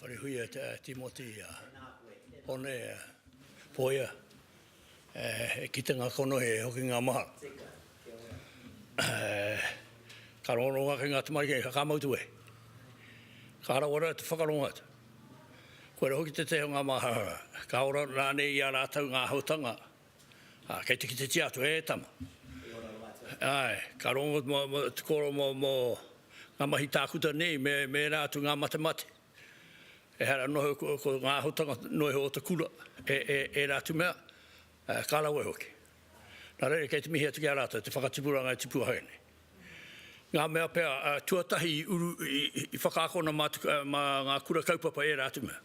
Wharehuia te Timoti Hone Poia e kite nga konohi e hoki nga mahara ka rongononga ki nga tamariki e kakama utu e ka harawera te whakarongo atu koe ra hoki te teha nga mahara ka ora rane i a ratou nga ahotanga Ā, kei te kitetia atu, E tama. Kei ora rā mātou. Āe, ka rongo mō, mō, te kōrero mō, mō ngā mahi tākuta nei me, me ērā atu ngā matemate. Ehara noho ko, ko ngā āhutanga noho iho o te kura, e, e, ērā atu mea, ā, ka rawe hoki. Nā reira, kei te mihi atu ki a rātou te whakatipuranga e tipu ai nei. Ngā mea pea, tuatahi i uru, i whakaakona mā te, mā ngā kura kaupapa ērā atu mea.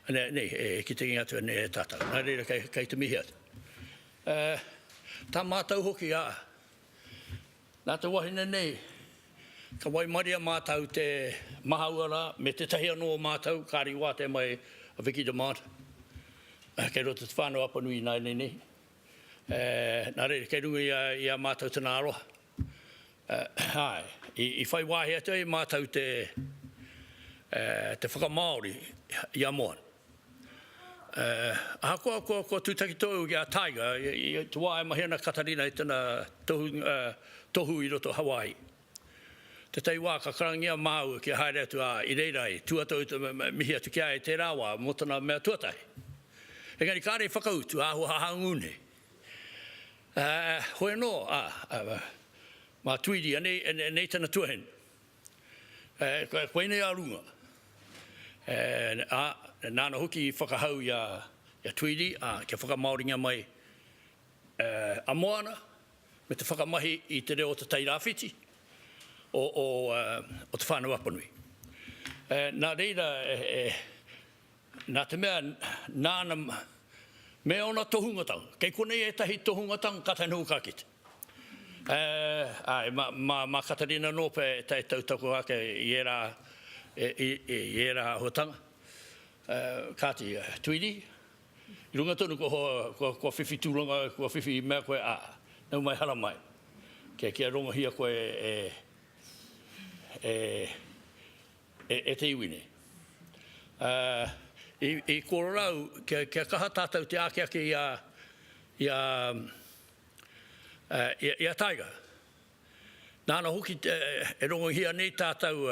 Nei, nei, e kitengi atu ana e tātau. Nā reira kei, kei te mihi atu. E, tā mātau hoki, ā, nā te wahine nei, ka waimaria mātau te mahaua rā, me tētahi anō o mātau, kāre i wātea mai a Vicky Damant, kei roto te Whānau Apanui ināianei nei. Nā reira, kei runga i a mātou tana aroha. Āe, i whai wāhi atu ai mātou te whakamāori i a Moana. Ahakoa kua tūtaki tonu ki a Tiger, i te wā e mahi ana a Katarina i tana tohu i roto o Hawai'i, Tētahi wā ka karangia māua kia haere atu, ā, i reira i tū atu au te mihi atu ki a ia i tērā wā mō tana mea tuatahi. Engari kāre i whakautu, āhua hahangū nei. Ā, hoi anō, ā, mā Tweedy, anei, anei tana tuahine. Ā, koinei a runga. Ā, nāna hoki i whakahau i a, i a Tweedy, ā, kia whakamāoringia mai a Moana, me te whakamahi i te reo o Te Tai Rāwhiti, o Te Whānau Apanui. Nā reira, nā te mea, nāna me ōna tohungatanga, kei konei ētahi tohungatanga kātahi noho ka kite. Āe, mā Katerina Norpe e tautoko ake i ērā āhuatanga. Kāti, Tweedie, I runga tonu kua hoa, kua, kua whiwhi tūranga, kua whiwhi mea koe, ā, nau mai hara mai. Kia, kia rongohia koe e, e, e, e te iwi nei. Ā, i, i korora au, kia, kia kaha tātou te āke ake i a, i a, ā, i a, i a Taiga. Nāna hoki te, e rongohia nei tātou,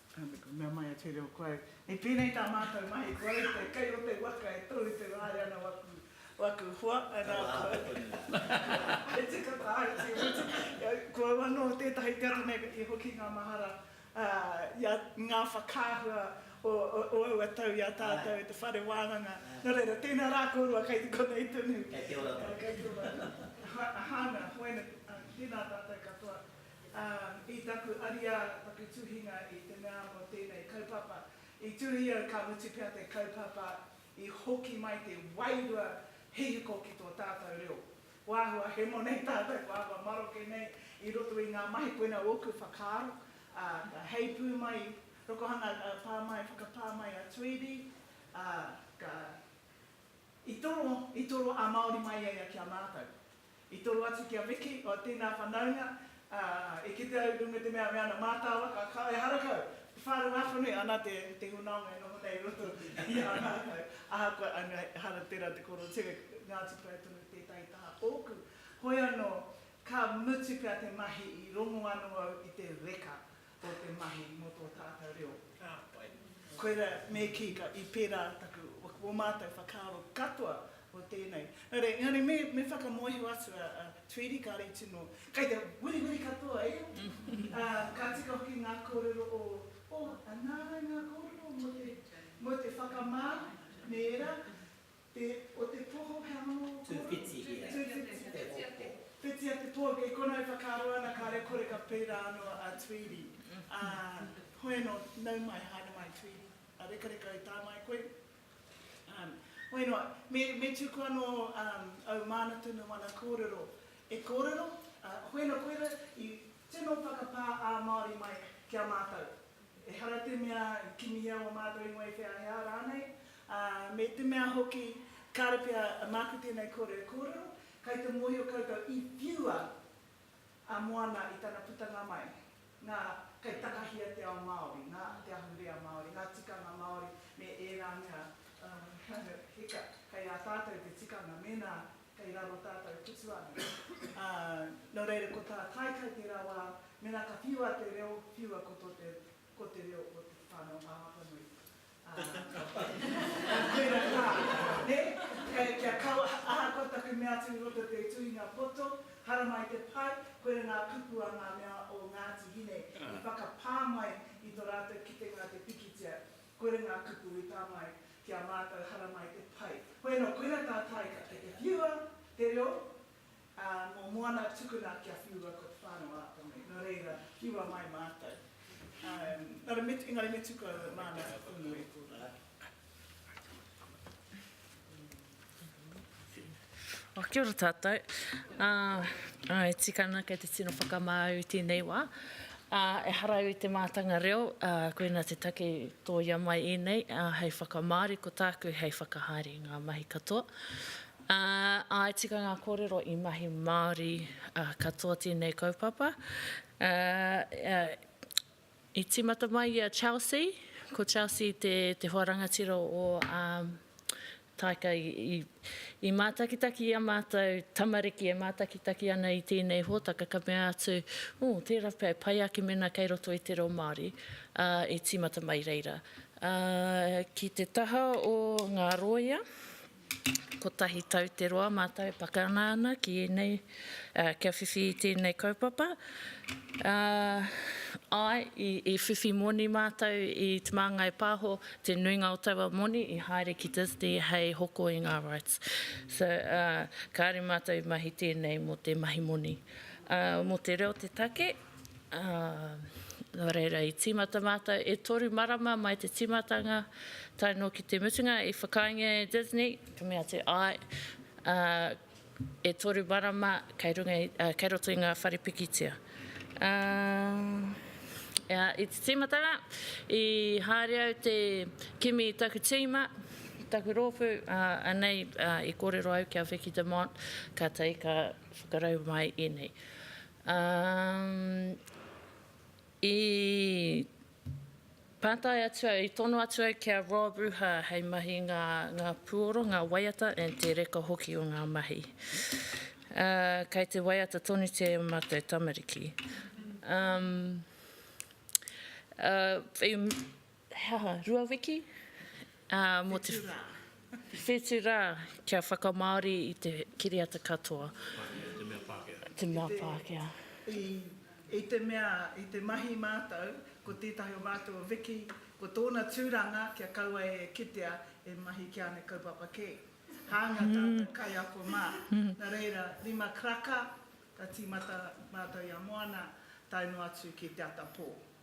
Ka mea mai a Tūreo, Koe, i pēnei tā mātou mahi, kua rite kei roto i waka e tōu te wāhi ana waku hoa, ana e tika tāu te mutu. Ko au anō tētahi te ata nei i hoki ngā mahara i a ngā whakaahua o aua tau i a tātou i te whare wānanga. Nō reira, tēnā rā kōrua kei te konei tonu. Kei te ora tonu. Kei te ora tonu. Hana, Hoena, tēnā tātou katoa. Ā, i taku ariā, taku tuhinga i te mea mō tēnei kaupapa, i tuhi au ka mutu pea te kaupapa i hoki mai te wairua hihiko ki tō tātau reo. Kua āhua hemo nei tātau, kua āhua maroke nei i roto i ngā mahi koina ōku whakaaro, ā, ka heipū mai, rokohanga pā mai, whakapā mai a Tweedy, ā, ka, i toro, i toro ā-Māori mai ia ia ki a mātau. I toro atu ki a Miki, o tēnā whanaunga, ā, e kite au i runga i te mea me ana mātāwa, ka kao e harakau, te whārua ākonui, ana te, te hunaonga e noho nei i roto i a mātou, ahakoa, anga, ehara tērā te koro ture, ngā tupurei tonu tētahi taha ōku. Hoi anō, ka mutu pea te mahi, i rongo anō au i te reka. o te mahi mō tō tātou reo. Ka pai. Koirā, me kī, ka, i pērā taku, o mātou whakaaro katoa o tēnei. Nō reira, engari me, me whakamoehua atu a, a Tweedy, kāre tino, kei te wirihiri katoa ia, ā, ka tika hoki ngā kōrero o, o, a nāna ngā kōrero mō te, mō te whakamā me ērā, Te, o te poho, he aha noa? Tūwhitihia, te hoko. Whitia te poho, kei konā e whakaaro ana kāre kore ka pērā anō a Tweedy, ā, hoi anō, nau mai, haere mai Tweedy, a rekareka e tae mai koe, ā, hoi noa, me, me tuku anō au māna tonu ana kōrero e kōrero, ā, hoi anō koira i tino whakapā ā-Māori mai ki a mātou. Ehara te mea kimihia o mātou ingoa i wheahea rānei, ā, me te mea hoki, kāre pea māku tēnei kōrero e kōrero, kai te mōhio koutou i whiua a Moana i tana putanga mai, nā, kai takahia te ao Māori, nā, te ahurea Māori, ngā tikanga Māori me ērā mea, ā, hika, kai a tātou te tikanga, mēnā Kei raro tātou putu ana. Ā, nō reira ko tā Kaikai tērā wā, mēnā ka whiua te reo, whiua ko tō te, ko te reo o Te Whānau ā Apanui. Ā, ka whai, ka koira tā, nē? Kei, kia kaua, ahakoa taku mea atu i roto i te tuhinga poto, haramai te pai, koira ngā kupu a ngā mea o Ngāti Hine i whakapā mai i tō rātou kitenga te pikitia. Koira ngā kupu i pā mai ki a mātou haramai te pai. Hoi anō, koira tā Taika kei te whiua te reo, ā, mō Moana tukuna kia whiua ko Te Whānau ā Tame. Nō reira, whiua mai mātou. Engari me, engari me tuku au e māna tonu e tō rā. Kia ora tātou. E tika ana kei te tino whakamāu i tēnei wā. Ehara au i te mātanga reo, koinā te take i tōia mai ēnei hei whakamāori, ko tāku hei whakahaere i ngā mahi katoa. Ā, e tika ngā kōrero i mahi Māori katoa tēnei kaupapa. I tīmata mai i a Chelsea, ko Chelsea te te hoa rangatira o ā Taika i i mātakitaki i a mātou tamariki e mātakitaki ana i tēnei hōtaka ka mea atu ū tērā pea e pai ake mēnā kei roto i te reo Māori ā e tīmata mai reira ā ki te taha o ngā rōia Kotahi tau te roa mātou e pakanga ana ki ēnei, kia whiwhi i tēnei kaupapa. Āe, i whiwhi moni mātou i Te Māngai Pāho, te nuinga o taua moni i haere ki Disney hei hoko i ngā rights. So, kāore mātou i mahi tēnei mō te mahi moni. Mō te reo te take. Nō reira, i tīmata mātou e toru marama mai te tīmatanga, tae noa ki te mutunga, i whakaaengia e Disney, ka mea atu, āe, e toru marama kei runga i, kei roto i ngā whare pikitia. I te tīmatanga, i haere au te kimi i taku tīma, taku rōpū, anei i kōrero au ki a Vicki Dumont, kātahi ka whakarau mai ēnei. Umm i pātai atu au, i tono atu au ki a Rob Ruha hei mahi i ngā ngā puoro, ngā waiata and te reka hoki o ngā mahi. Umm kei te waiata tonutia e mātou tamariki. Umm umm he aha, rua wiki? Ā, mō te. Whetū rā. Whetū rā, kia whakamāori i te kiriata katoa. Pākehā, i te mea Pākehā. I te mea Pākehā. I, i te mea, i te mahi mātou, ko tētahi o mātou o Vicki, ko tōna tūranga kia kaua e kitea e mahi ki āna kaupapa kē. Hāunga tātou kaiako mā. Nā reira, rima karaka, ka tīmata mātou i a Moana, tae noa atu ki te ata pō.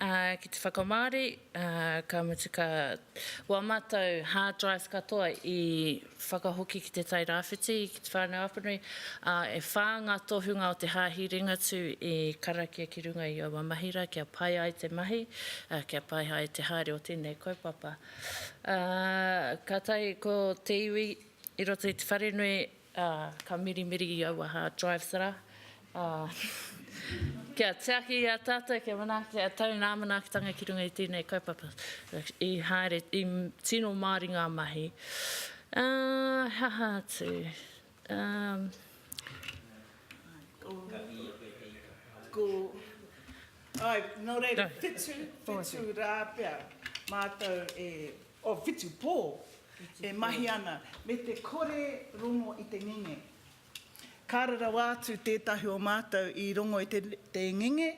Ā, ki te whakamāori, ā, ka mutu ka wā mātou hard drive katoa i whakahoki ki Te Tai Rāwhiti, ki te Whānau Apanui, ā, e whā ngā tohunga o te Hāhi Ringatū i karakia ki runga i aua mahi rā kia pai ai te mahi, ā, kia pai ai te haere o tēnei kaupapa. Ā, kātahi ko te iwi i roto i te wharenui Ā, ka mirimiri i aua hā drive-thra, ā, kia tiaki i a tātou, kia manaaki a tau nā manaakitanga ki runga i tēnei kaupapa. I haere, i tino māori ngā mahi. Ā, he aha atu, umm. Ko, ko, āe, nō reira, whetū, whetū rā pea mātou e o Whitupō e mahi ana me te kore rongo i te ngenge. Kāre rawa atu tētahi o mātou i rongo i te ngenge,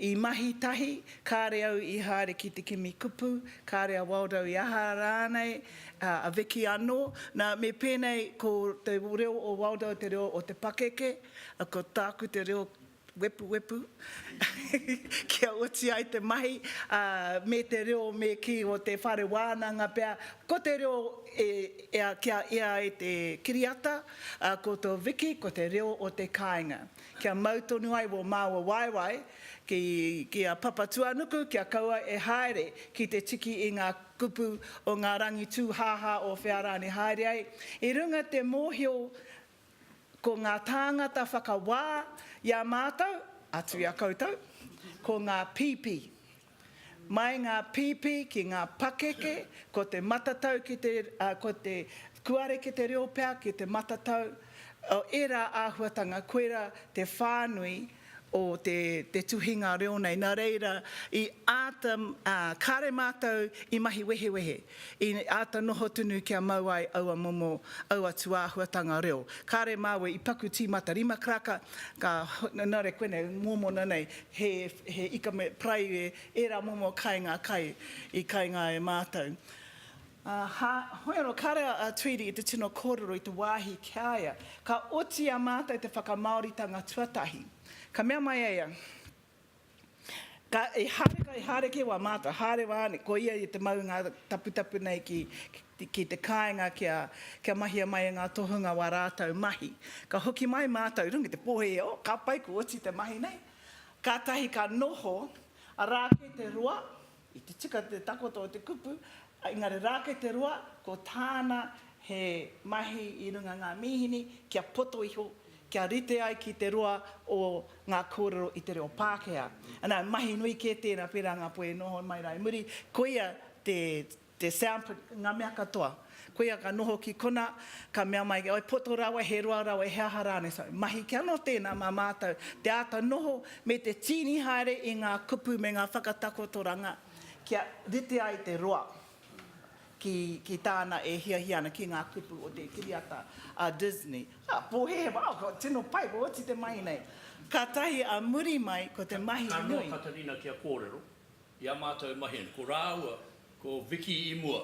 i mahi tahi, kāre au i haere ki te kimi kupu, kāre a Waldo i aha rānei, a Vicki anō. Nā, me pēnei, ko te reo o Waldo te reo o te pakeke, ko tāku te reo wepuwepu kia oti ai te mahi, ā, me te reo me kī o te whare wānanga pea, ko te reo e ea kia ea ai te kiriata, ā, ko tō Vicki ko te reo o te kāinga. Kia mau tonu ai wō māua waewae ki, ki a Papatuanuku kia kaua e haere ki te tiki i ngā kupu o ngā rangi tūhāhā o whea rānei haere ai, i runga te mōhio Ko ngā tāngata whakawā i a mātou, atu i a koutou, ko ngā pīpī. Mai ngā pīpī ki ngā pakeke, ko te matatau ki te, ko te kuareke te reo pea ki te matatau, ērā āhuatanga, koirā te whānui o te tuhinga reo nei. Nā reira, i āta, kāre mātou i mahi wehewehe, i āta noho tunu kia mau ai aua momo, aua tūāhuatanga reo. Kāre māua i paku tīmata rima karaka, ka, nā reira koinei, mōmona nei, he, he ika me, paraire, ērā momo kai ngā kai i kainga e mātou. Aha, hoi anō, kāre a Tweedie i te tino kōrero i te wāhi ki a ia. Ka oti i a mātou te whakamāoritanga tuatahi. Ka mea mai a ia, Ka, i haere, ka i haere kē wā mātou, haere wā ne, ko ia i te mau i ngā taputapu nei ki, ki te kāinga kia, kia mahia mai e ngā tohunga wā rātou mahi. Ka hoki mai mātou i runga i te pōhēhē, oh, ka pai, kua oti te mahi nei. Kātahi ka noho, arā kē te roa, I te tika te takoto o te kupu, engari rā kei te roa, ko tāna he mahi i runga ngā mīhini kia poto iho, kia rite ai ki te roa o ngā kōrero i te reo Pākehā. Nā, mahi nui kē tēnā, pērā ngā puea i noho mai rā i muri, koia te, te sound print, ngā mea katoa. Koia ka noho ki kona, ka mea mai ki, oi poto rawa, he roa rawa, he aha rānei, so, mahi ki anō tēnā mā mātou te āta noho me te tīni haere i ngā kupu me ngā whakatakotoranga kia rite ai te roa ki, ki tāna e hiahia ana, ki ngā kupu o te kiriata a Disney. Ā, pōhēhē, wow, ko, tino pai, ko oti te mahi nei. Kātahi a muri mai, ko te mahi nui. Ka noho a Katarina kia kōrero, i a mātou mahi nei, ko rāua, ko Vicki i mua,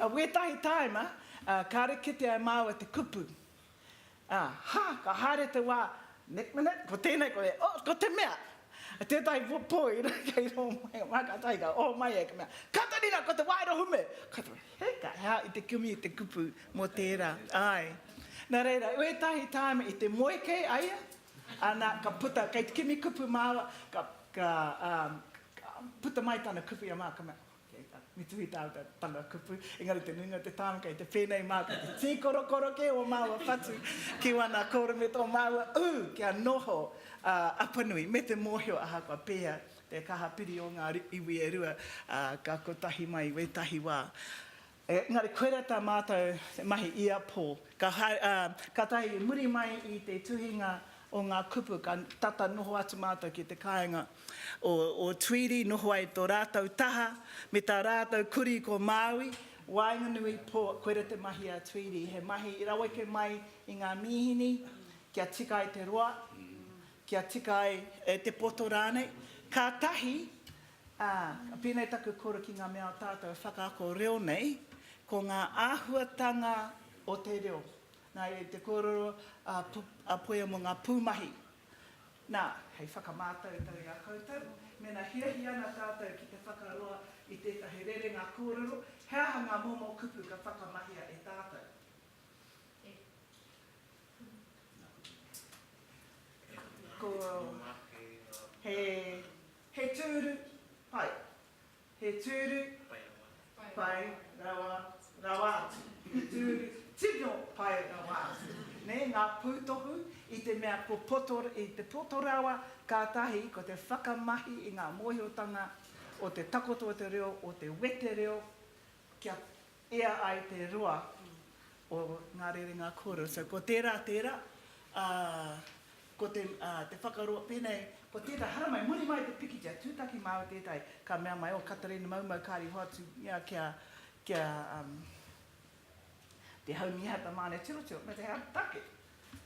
A wētahi tāima, a, kāre kite ai māua te kupu. A, ha, ka haere te wā, next minute, ko tēnei, ko tēnei, oh, ko te mea! A tētahi pō, pō i runga kei rō mai, wā ka tahi ka oho mai e, ka mea, Katarina, ko te wāero hume! Katarina, he, ka, he aha i te kimi i te kupu mō tērā? Āe. Nā reira, wētahi tāima i te moe kei a ia, ana, ka puta, kei te kimi kupu māua, ka, ka, a, ka puta mai tana kupu i a māua, ka mea, Kei tā, me tuhi tā te tanga kupu, engari te nuinga o te tāone kei te pēnei māku, te tī korokoro kē o māua whatu ki wana kōrero me tō māua ū kia noho a Apanui me te mōhio ahakoa pēhea te kaha piri o ngā iwi e rua, ā, ka kotahi mai wētahi wā. Engari koirā tā mātou te mahi i a Paul. Ka haere, ā, kātahi i muri mai i te tuhinga o ngā kupu ka tata noho atu mātou ki te kāinga o, o Tweedy, noho ai tō rātou taha me tā rātou kurī ko Māui, waenganui, pō, koirā te mahi a Tweedy, he mahi i raweke mai i ngā mīhini kia tika ai te roa, kia tika ai te poto rānei. Kātahi Ā, pēnei taku koro ki ngā mea o tātou e whakaako reo nei, ko ngā āhuatanga o te reo. Nā reira, i te kōrero a Poia mō ngā pūmahi, nā, hei whakamātautau i a koutou, mēnā hiahia ana tātou ki te whakaroa i tētahi rerenga kōrero, he aha ngā momo kupu ka whakamahia e tātou? Ko, he, He tūru pai. He tūru pai rawa rawa atu. He tūru tino pai rawa atu. Nē, ngā pūtohu i te mea ko poto, i te poto rawa, kātahi ko te whakamahi i ngā mōhiotanga o te takoto o te reo, o te wetereo, kia Ia ai te roa o ngā rerenga kōrero. So, ko tērā, tērā, ā, ko te, ā, te whakaroa, pēnei, ko tētahi, haramai, muri mai te pikitia, tūtaki māu tētahi, ka mea mai, oh, Katarina Maumau, kāre i hoatu ia ki a, ki a, um, Te Haumia ta Mane Tirotiro, me te take,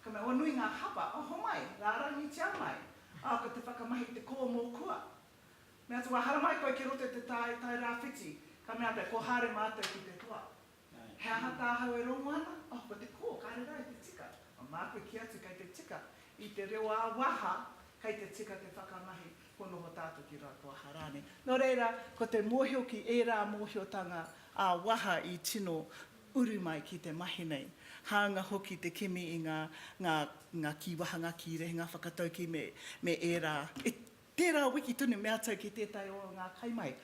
ka mea, oh, nui ngā hapa, oh, homai, rārangitia mai, ā, ko te whakamahi, te kō mō kua, Mea atu, Wā haramai koe ki roto i te tae, tae rāwhiti. Ka mea pea, Ko Hāre mātou ki te toa. He aha tāhau e rongo ana? Oh, ko te kō, kāre rā i te tika. Mā māku kī atu kei te tika. I te reo ā-waha, kei te tika te whakamahi, kua noho tātou ki Ratoaha rānei. Nō reira, ko te mōhio ki ērā mōhiotanga ā-waha i tino uru mai ki te mahi nei. Hāunga hoki te kimi i ngā kīwaha, ngā kīrehe, ngā whakataukī me ērā, Tērā wiki tonu me ātou ki tētahi o ngā kaimahi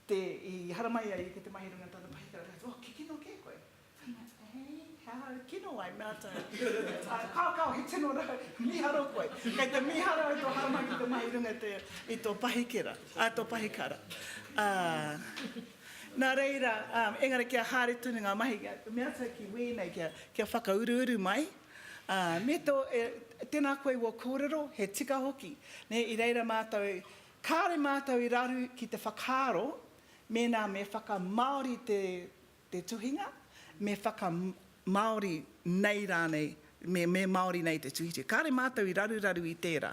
te, i haramai ai i te Te Mahi Runga tōna pahikara, me ātou, oh, ke kino kē koe? Kai mai ātou, he, he aha au kino ai? Me ātou, oh, kao, kao, he tino rā, mīharo koe. Kei te mīharo au tō haramai ki te Mahi Runga te, i tō pahikera, ā, tō pahikara. Ā, nā reira, ā, engari kia haere tonu ngā mahi, me ātou ki wēnei kia, kia whakauruuru mai, Ā, me tō, e, tēnā koe wō kōrero, he tika hoki. Nē, i reira mātou, kāore mātou i raru ki te whakaaro, mēnā me whakamāori te, te tuhinga, me whaka, māori nei rānei, me, me māori nei te tuhituhi. Kāore mātou i raruraru i tērā,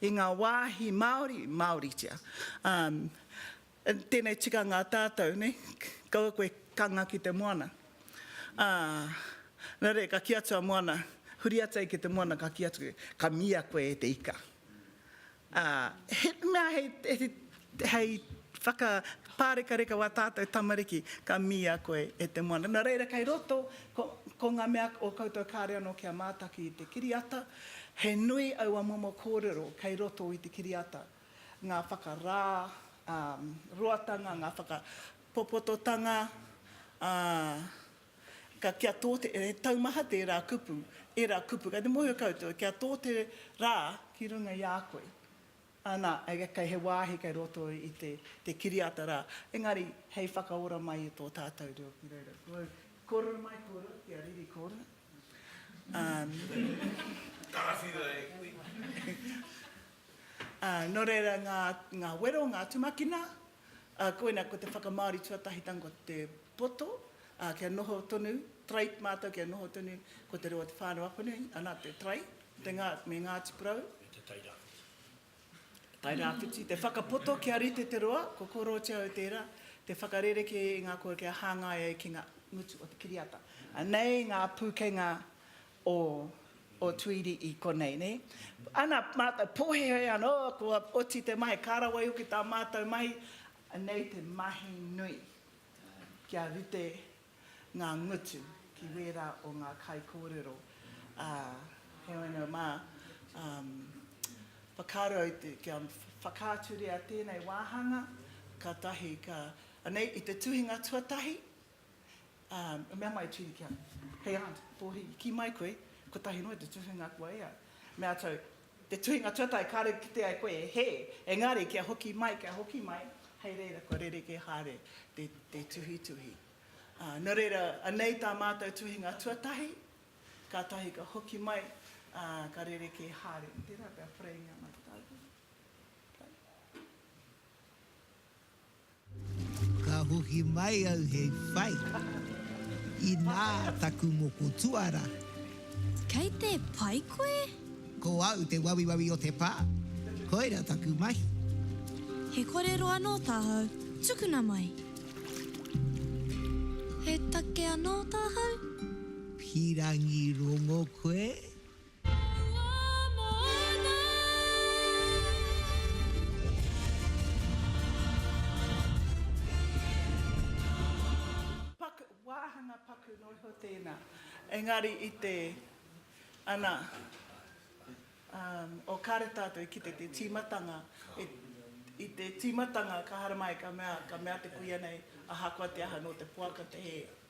i ngā wāhi Māori, māoritia. Ā, Tēnei tikanga tātou, nē, kaua koe ka nga ki te moana. Ā, nā reira, ka kī atu a Moana, huri atu ai ki te moana, ka kī atu, ka mīia koe e te ika. Ā, he mea hei, hei, hei whakapārekareka wā tātou tamariki, ka mīia koe e te moana. Nō reira, kei roto, ko, ko ngā mea o koutou kāore anō kia mātaki i te kiriata, he nui aua momo kōrero kei roto i te kiriata. ngā whakarā, ā, roatanga, ngā whakapopototanga, ā, ka, kia tō te, he taumaha tērā kupu, ērā kupu, kei te mōhio koutou, kia tō te rā ki runga i a koe, ā, nā, kei he wāhi kei roto i te, te kiriata rā, engari hei whakaora mai i tō tātou reo ki reira. Kōrero mai, kōrero, kia riri kōrero. Ā. Karawhiua e koe. Ā, nō reira ngā, ngā wero, ngā tumakina, ā, koina ko te whakamāori tuatahitanga ko te poto, ā, kia noho tonu, trait mātou kia noho tonu ko te reo o Te Whānau Apanui, ana te trait, te ngā, me Ngāti Porou. Me te Tairāwhiti. Tairāwhiti, te whakapoto kia rite te roa, ko Kōrooti au tērā, te whakarerekē i ngā kōrero kia hāngai ai ki ngā ngutu o te kiriata. Anei ngā pūkenga o o Tuiri i konei, ne? Ana matou pohehe ano kua oti te mai, ka rawai hoki ta matou mai, anei te mahi nui kia rite nga ngutu ki wera o nga kaikorero, a, heoi ano ma, um, whakaaro au te, kia whakaaturia tenei wahanga, katahi ka, anei i te tuhinga tuatahi, Ā, i mea mai a Tīni ki a. Hei aunt, Pōhi, kī mai koe, kotahi noa te tuhinga kua ea. Me a tau, te tuhinga tuatahi kāore i kite ai koe e hē, engari kia hoki mai, kia hoki mai, hei reira kua rerekē haere te, te tuhituhi. Ā, nō reira, anei tā mātou tuhinga tuatahi, kātahi ka hoki mai, ā, ka rerekē haere. Tērā pea whareingia mai tātou. Okay. Ka hoki mai au hei whai, inā taku moko tuara. Kei te pai koe? Ko au te wawiwawi o te pā, koira taku mahi. He korero anō tāhau, tukuna mai. He take anō tāhau? Pīrangi rongo koe, Paku, wāhanga paku noa iho tēnā. Engari i te, ana, umm, oh kāre tātou e kite te tīmatanga, e, i te tīmatanga ka haramai ka mea, ka mea te kuia nei, ahakoa te aha nō te poaka te hē.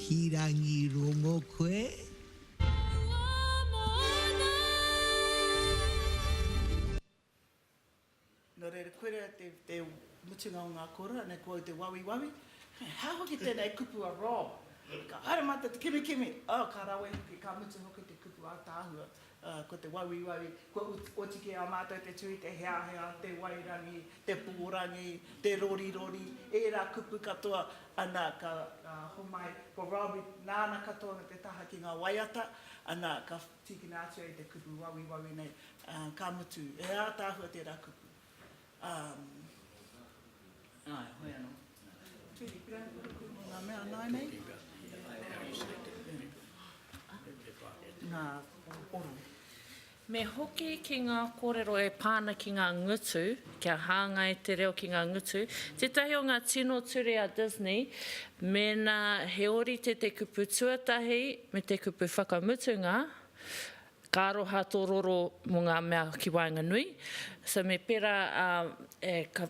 Hīrangi rongo koe. Nō reira, koirā te mutunga o ngā kōrero, anei ko au te wawiwawi. Hei, hā hoki tēnei kupu a Rob! Ka haere mātou te kimikimi, oh, ka rawe hoki, ka mutu hoki te kupu ātaahua. Ā, ko te wawiwawi, kua oti ki a mātou te tū i te heahea, te wairangi, te pōrangi, te rorirori, ērā kupu katoa, ana, ka homai, ko Robbie, nāna katoa me te taha ki ngā waiata, ana, ka tīkina atu ai te kupu wawiwawi nei, ā, ka mutu, he ātaahua tērā kupu. Me hoki ki ngā kōrero e pā ana ki ngā ngutu, kia hāngai te reo ki ngā ngutu. Tētahi o ngā tino ture a Disney, mēnā he ōrite te kupu tuatahi me te kupu whakamutunga, Ka aroha tō roro mō ngā mea ki waenganui. So me pērā e ka,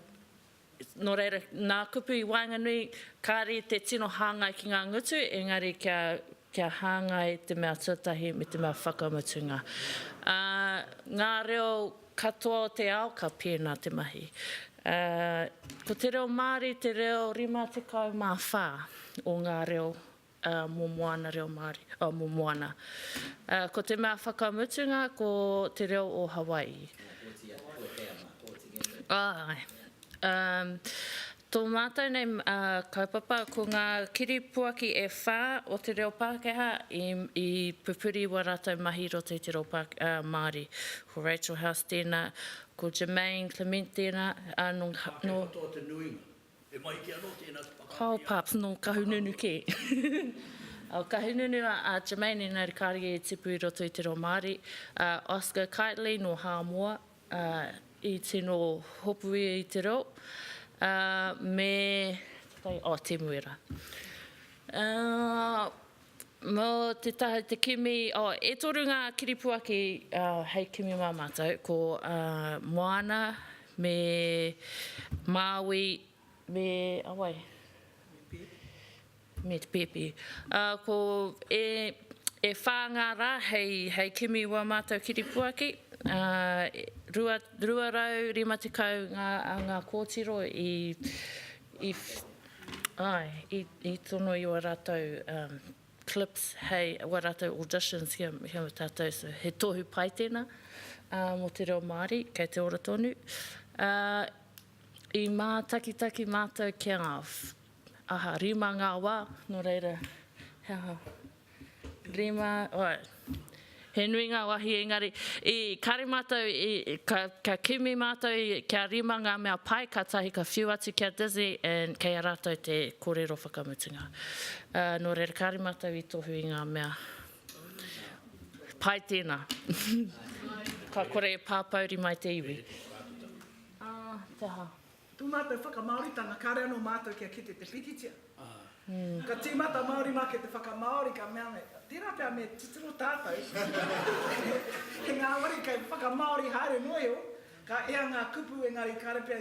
nō reira, nā kupu i waenganui, kāre te tino hāngai ki ngā ngutu, engari kia, kia hāngai te mea tuatahi me te mea whakamutunga. Ā, ngā reo katoa o te ao ka pēnā te mahi. Ā, ko te reo Māori te reo 54 o ngā reo ā, mō Moana reo Māori, ā, mō Moana. Ā, ko te mea whakamutunga ko te reo o Hawai'i. Āe. Ā, tō mātou nei, ā, kaupapa, ko ngā kiripuaki e whā o te reo Pākehā i, i pupuri i wā rātou mahi i roto i te reo Pā, ā, Māori. Ko Rachel House tēnā, ko Germaine Clement tēnā, ā, nō, nō. Ka whai katoa te nuinga. He mahi kē anō tēnā te whakaari a. Kyle Parks, nō Kahununu kē. Nō Kahununu a Jermaine, engari kāre ia i tipu i roto i te reo Māori. Oscar Kiteley, nō Hāmoa, i tino hopu ia i te reo. Me, tētahi, oh, Temu Era. Mō te taha te kimi, oh, e toru ngā kiripuaki hei kimi mā mātou, ko Moana me Māui me a wai? Me te Pēpi. Ko e, e whā ngā rā hei, hei kimi wā mātou kiripuaki, rua, rua rau rima tekau ngā, ngā kōtiro i, i. Ae, i tono i oa ratou clips hei, oa ratou auditions ki a tatou, so he tohu pai tena mo te reo Maori, kei te ora tonu. I matakitaki matou kia, aha, rima nga wa, no reira he aha. Rima, oe. He nui ngā wāhi engari, i, kāre mātou i, ka, ka kimi mātou i, kia rima ngā mea pai kātahi ka whiu atu ki a Disney and kei a rātou te kōrero whakamutunga. Ā, nō reira kāre mātou i tohu i ngā mea pai tēnā. Ka kore e pāpouri mai te iwi. Ā, te aha? Tō mātou whakamāoritanga kāre anō mātou kia kite te pikitia. Ka tīmata Māori mā kei te whakamāori ka mea nei, tērā pea me titiro tātou he ngāwari kei whakamāori haere noa iho, ka ea ngā kupu engari kāre pea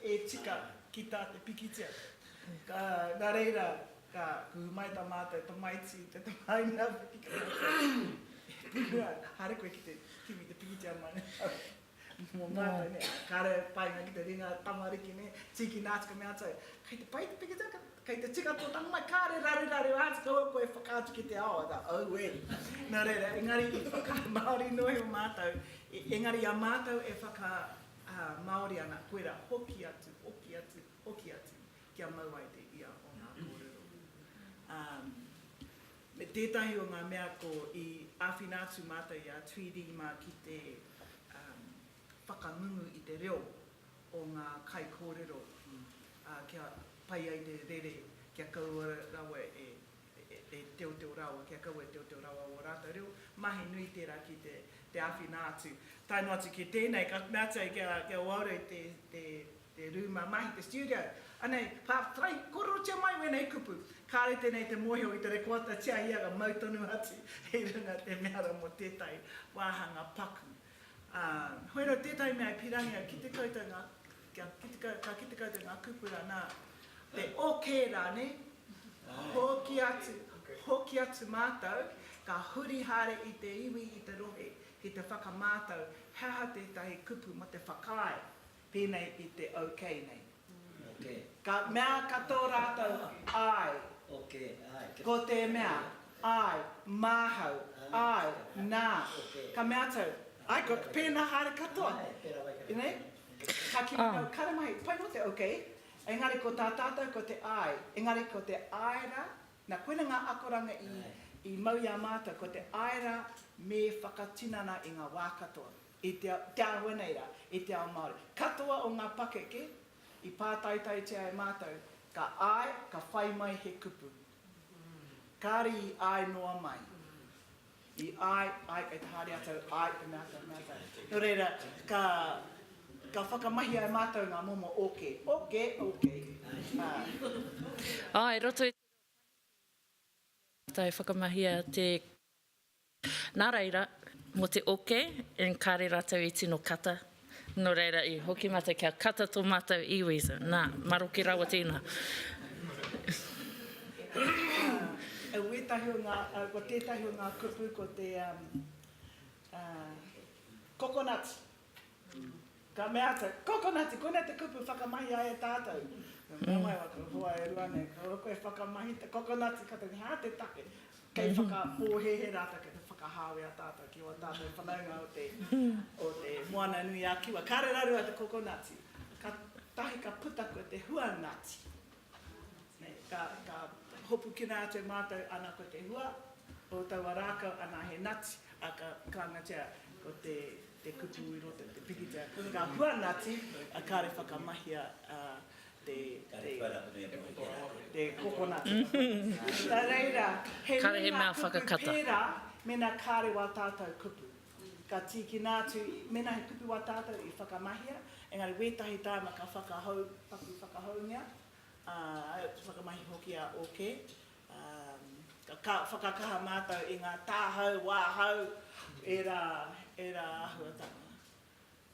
e tika ki tā te pikitia. Ka, nā reira, ka kuhu mai tā mātou tamaiti i te tamāhine a Wiki ka mea, e Pūhura, haere koe ki te kimi te pikitia mai nei. Mō mātou nei, kāre au painga ki te ringa tamariki nei, tīkina atu ka mea atu au, kei te pai te pikitia, kei te tika tō tama mai, kāre raruraru atu kaua koe e whakaatu ki te ao, I go, oh wē. Nō reira, engari i whakamāori noa iho mātou, engari i a mātou e whakamāori ana, koirā, hoki atu, hoki atu, hoki atu, kia mau ai te ia o ngā kōrero. Me tētahi o ngā mea ko i āwhina atu mātou i a Tweedie mā ki te whakangungu i te reo o ngā kaikōrero kia pai ai te rere kia kaua rawa e teoteo rawa, kia kaua e teoteo rawa ō rātou reo. Mahi nui tērā ki te āwhina atu. Tae noa atu ki tēnei ka meatia ai kia uaua te te rūma mahi, te studio, anei, ka whai korotia mai wēnei kupu, kāre tēnei te mōhio i te rekoata tia ia ka mau tonu atu i runga te mea rā mō tētahi wāhanga paku. Ā, hoi anō tētahi mea e pīrangī au, kite koutou ngā, kia kite koutou, ka kite koutou ngā kupu rā, nā, te okē rānei, hoki atu, hoki atu mātou, ka huri haere i te iwi, i te rohe, ki te whakamātau he aha tētahi kupu mō te whakaae, Pēnei i te OK nei. Ka mea ka tō rātou, Āe. Ko te mea, Āe, māhau, āe, nā. Ka mea tou, Āe, ko pēnā haere katoa. Nei? Ka kimi tou, Kāre mai, pai noa te OK. Engari ko tā tātou ko te Āe. Engari ko te Āe rā, nā koina ngā akoranga i mau i a mātou, ko te Āe rā me whakatinana i ngā wā katoa. i te ao, te āhua nei rā, i te ao Māori. Katoa o ngā pakeke i pātaitaitia e mātou, ka āe, ka whai mai he kupu. Kāre i āe noa mai. I āe, āe, kei te haere atu au, āe, te mea atu, mea atu. Nō reira, ka, ka whakamahia e mātou ngā momo oke, oke, oke, ā. Ā, i roto i te reo Pākehā, mātou e whakamahia te. Nā reira, mō te oke, and kāre rātou i tino kata, nō reira i hoki mātou kia kata tō mātou iwi, so, nā, maroke rawa tēnā. Ka mea atu, Kokonati, koinei te kupu whakamahia e tātou. Ka mea mai au, Ko hoa e rua nei, kāore koe e whakamahi te kokonati, ka tau, hā te take. Kei whakapōhēhē rātou, kei te whakahāwea tātou ki ō tātou whanaunga o te Moana-nui-a-Kiwa. Kāre rarua te kokonati. Kātahi ka puta koe te huangati. Ka hopukina atu mātou ana ko te hua o taua rākau ana he nati, a ka kāngatia ko te kupu i roto i te pikitia ngā hua nati a kāre whakamahia te kokonati. Nā reira he mea ngā kupu pērā mēnā kāre wā tātou kupu. Ka tīkina atu, mēnā he kupu wā tātou i whakamahia, engari wētahi tāna ka whakahou, paku whakahoungia, ā, whakamahi hoki a OK. Ā, ka whakakaha mātou i ngā tāhau, wāhau, ērā, ērā āhuatanga.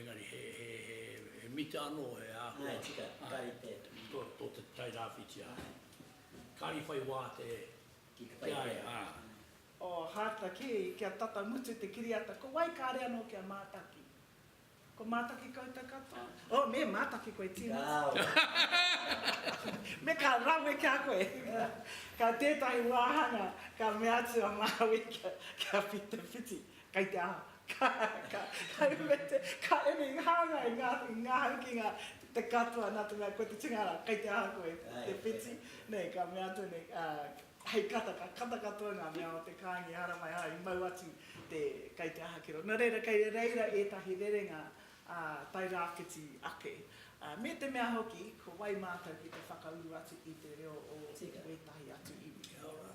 Engari he mita anō he āhua tō te Tairāwhiti ā. Kāri whai wā te kiaia. O Haata kē, kia tata mutu te kiriata, ko wai kāre anō kia mātaki? Ko mātaki koutou katoa? O, me mātaki koe tīmata. Me ka rawe ki a koe. Ka tētahi wāhanga ka mea atu a Māui kia whiti. Kei te aha? Ka, ka, ka ume te, ka uru i hāngai, i ngā, i ngā haukinga, te katoa, nā te mea, ko te tūnga rā, kei te aha koe, te whiti? Nei, ka mea atu nei, hei kata, ka kata katoa ngā mea o te kāinga i haramaiha, i mau atu te, kei te aha ki roto. Nō reira, kei reira ētahi rerenga, ā, tae rāwhiti ake. Ā, me te mea hoki, ko wai mātou ki te whakauru atu i te reo o wētahi atu iwi? Kia ora.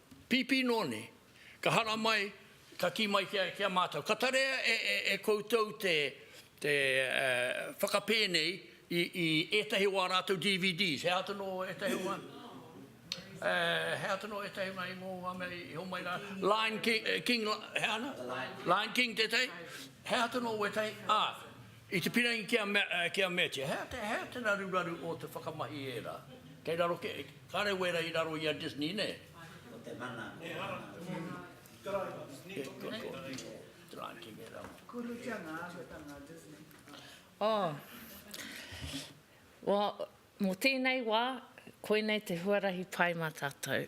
Pīpī noa nei, ka hara mai, ka kī mai ki a mātou, ka tarea e koutou te whakapēnei i ētahi o ā rātou DVDs, he aha tonu ētahi o ngā, he aha tonu ētahi o ngā ingoa o ngā mea i homai rā, Lion King, he aha ana? The Lion King. The Lion King tētahi, he aha tonu ētahi, ā, I te pīrangi ki a Matthew, hei a te raruraru o te whakamahi ērā? Kei raro kē, kāre wērā i raro i a Disney, nē? Ko te mana, ko te mana. Kurutanga, ko te mana Disney. Mō tēnei wā, koinei te huarahi pai mā tātou.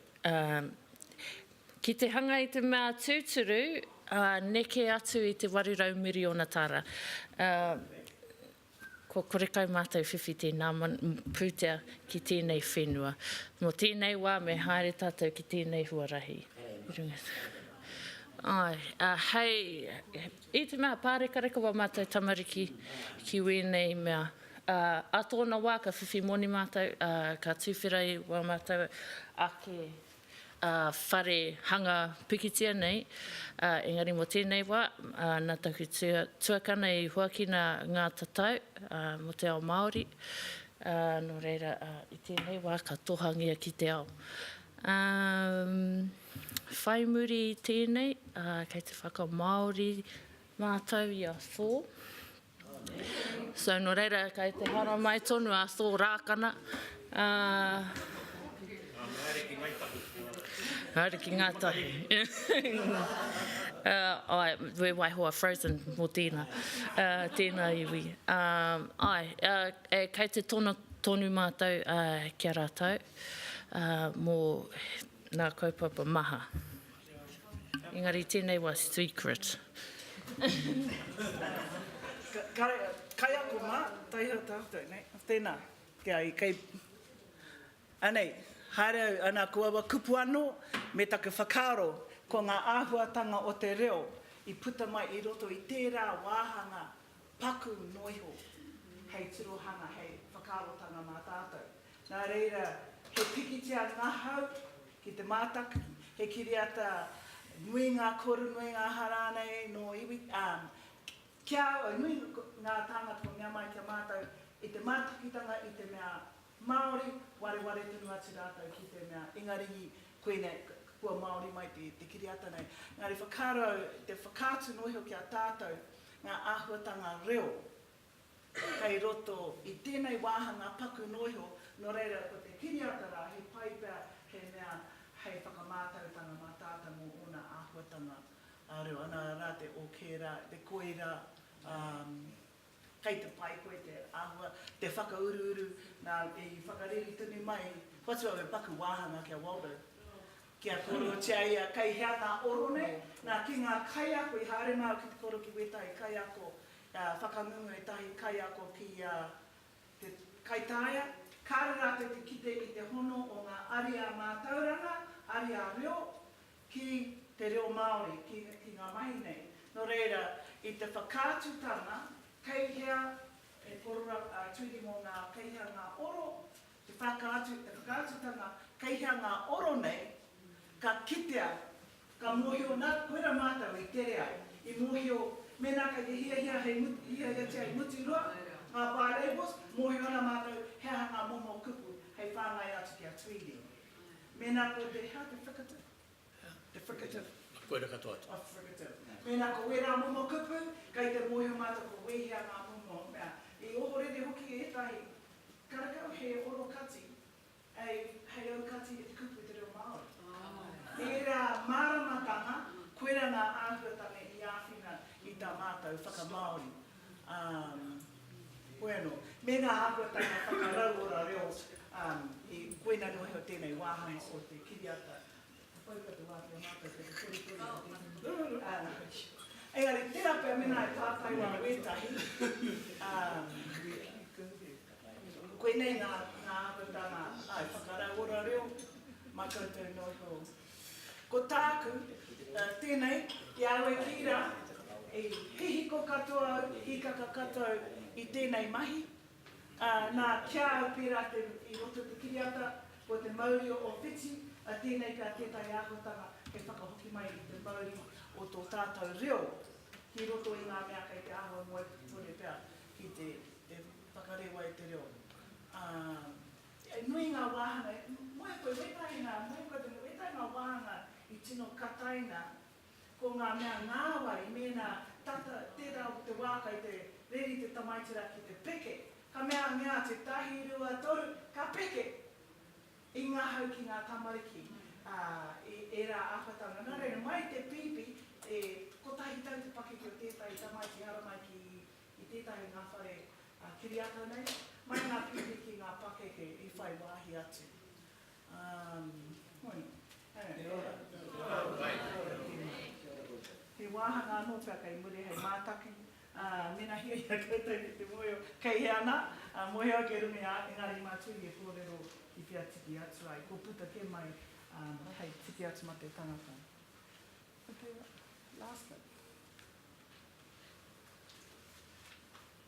Ki te hanga i te mea tūturu, neke atu i te 800 miriona tāra. Kua kore kau mātou whiwhi tēnā pūtea ki tēnei whenua. Mō tēnei wā me haere tātou ki tēnei huarahi. Hei. I te mea, pārekareka wā mātou tamariki ki wēnei mea, ā, ā tōna wā ka whiwhi moni mātou, ā, ka tūwhera i wā mātou ake, ā, whare hanga pikitia nei, ā, engari mō tēnei wā, ā, nā taku tuakana i huakina ngā tatau, ā, mō te ao Māori, ā, nō reira, ā, i tēnei wā ka tohangia ki te ao. Ā, whai muri i tēnei, ā, kei te whakamāori mātou i a Thor. So, nō reira, kei te haramai tonu a Thor Rākana, ā, Haere ki Ngāi Tahu. Haere ki Ngāi Tahu. Ā, āe, we waiho a Frozen mō tēnā, ā, tēnā iwi. Ā, āe, ā, kei te tono tonu mātou, ā, ki a rātou. mō nā kaupapa maha. Engari tēnei wa secret. Kaiako mā, taiha tātou, nei. Tēnā, kia i kei. Anei, haere au, ana ko aua kupu anō, me taku whakaaro, ko ngā āhuatanga o te reo i puta mai i roto i tērā wāhanga paku noa iho, hei tirohanga, hei whakaarotanga mā tātou. Nā reira, he pikitia ngahau ki te mātaki, he kiriata nui ngā koru, nui ngā aha rānei nō iwi, ā, ki a au, nui ngā tāngata kua mea mai ki a mātou i te mātakitanga i te mea Māori, wareware tonu atu rātou ki te mea Ingarihi, koinei, kua Māori mai te kiriata nei. Engari whakaaro au, te whakaatu noa iho ki a tātou ngā āhuatanga reo. kei roto i tēnei wāhanga paku noa iho, nō reira ko te kiriata rā he pai pea he mea hei whakamātautanga mā tātou mō ōna āhuatanga reo ana rā te ok rā, te koirā, ā, kei te pai koe te āhua, te whakauruuru, nā, i whakareri tonu mai, whatu au he paku wāhanga ki a Waldo, kia kōrerotia ia kei hea ngā oro nei, nā, ki ngā kaiako, i haere mai au ki te kōrero ki wētahi kaiako Ka whakangungu ētahi kaiako ki a te kaitaia, kāore rātou te kite i te hono o ngā ariā mātauranga, ariā reo, ki te reo Māori, ki, ki ngā mahi nei. Nō reira, i te whakaatutanga, kei hea he korora, ā, tuhi mō ngā kei hea ngā oro, Te whakaatu, te whakaatutanga, kei hea ngā oro nei, ka kitea, ka mōhio, nā, koirā mātou i tere ai, i mōhio, mēnā kei te hiahia hei mutu, hiahiatia hei mutu noa ngā bi-labels, mōhio ana mātou he aha ngā momo kupu hei whāngai atu ki a Tweedie. Mēnā ko te, hea te whakatu? Te fricative. Koira katoa te. A fricative. Mēnā ko wērā momo kupu, kei te mōhio mātou kua wehea ngā momo mea. I ohorere hoki ētahi karekau he oro kati hei aukati e te kupu i te reo Māori. Ērā māramatanga, koira ngā āhuatanga i āwhina i tā mātou whakamāori. Hoi anō, me ngā āhuatanga whakarauora reo, koinā noho tēnei wāhanga o te kiriata. Engari, tērā pea mēnā e tātai wā wētahi, ā, koinei ngā āhuatanga, āe, whakarauora reo mā koutou nō iho. Ko tāku, tēnei, i a au e kī rā, i hihiko katoa au, hīkaka katoa au i tēnei mahi, Ā, nā, ki a au pērā te, i roto i te kiriata, ko te mauri o Ōwhiti, ā, tēnei pea tētahi āhuatanga hei whakahoki mai i te mauri o tō tātou reo ki roto i ngā mea kei te āhua moe kore pea ki te, te whakarewa i te reo. Ā. E nui ngā wāhanga, e moe koe wētahi nā, e moe koe te, wētahi ngā wāhanga i tino kataina. Ko ngā mea ngāwari mēnā tata tērā o te wā kai te reri te tamaiti rā ki te peke, ka mea mea atu tahi rua toru ka peke! I ngahau ki ngā tamariki, ā, i ērā āwhatanga. Nā reira, mai i te pīpī, e kotahi tau te pakeke o tētahi tamaiti haramai ki i tētahi o ngā whare kiriata nei, mai ngā pīpī ki ngā pakeke i whai wāhi atu. Kia ora. He wāhanga anō pea kei muri hei mātaki, ā, mēnā hia i a koutou ki te mōhio kei hea nā, ā, mōhio ake runga i a au, engari mā Turi e kōrero i whea tiki atu ai, kua puta kē mai, ā, hei tiki atu mā te tangata. Ko tērā. Last slide.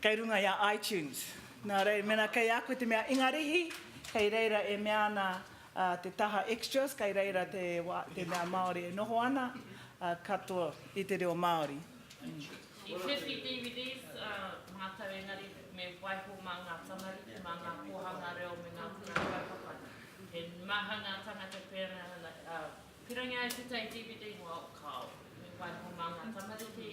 Kei runga i a iTunes. Nā reira, mēnā kei a koe te mea Ingarihi, kei reira e mea ana te taha Extras, kei reira te mea Māori e noho ana, katoa i te reo Māori. I whiwhi DVDs mātou engari me waiho mā ngā tamariki, mā ngā kōhanga reo me ngā kura kaupapa. He maha ngā tāngata pērā, pīrangi ai tētahi DVD, wao, kāo, me waiho mā ngā tamariki,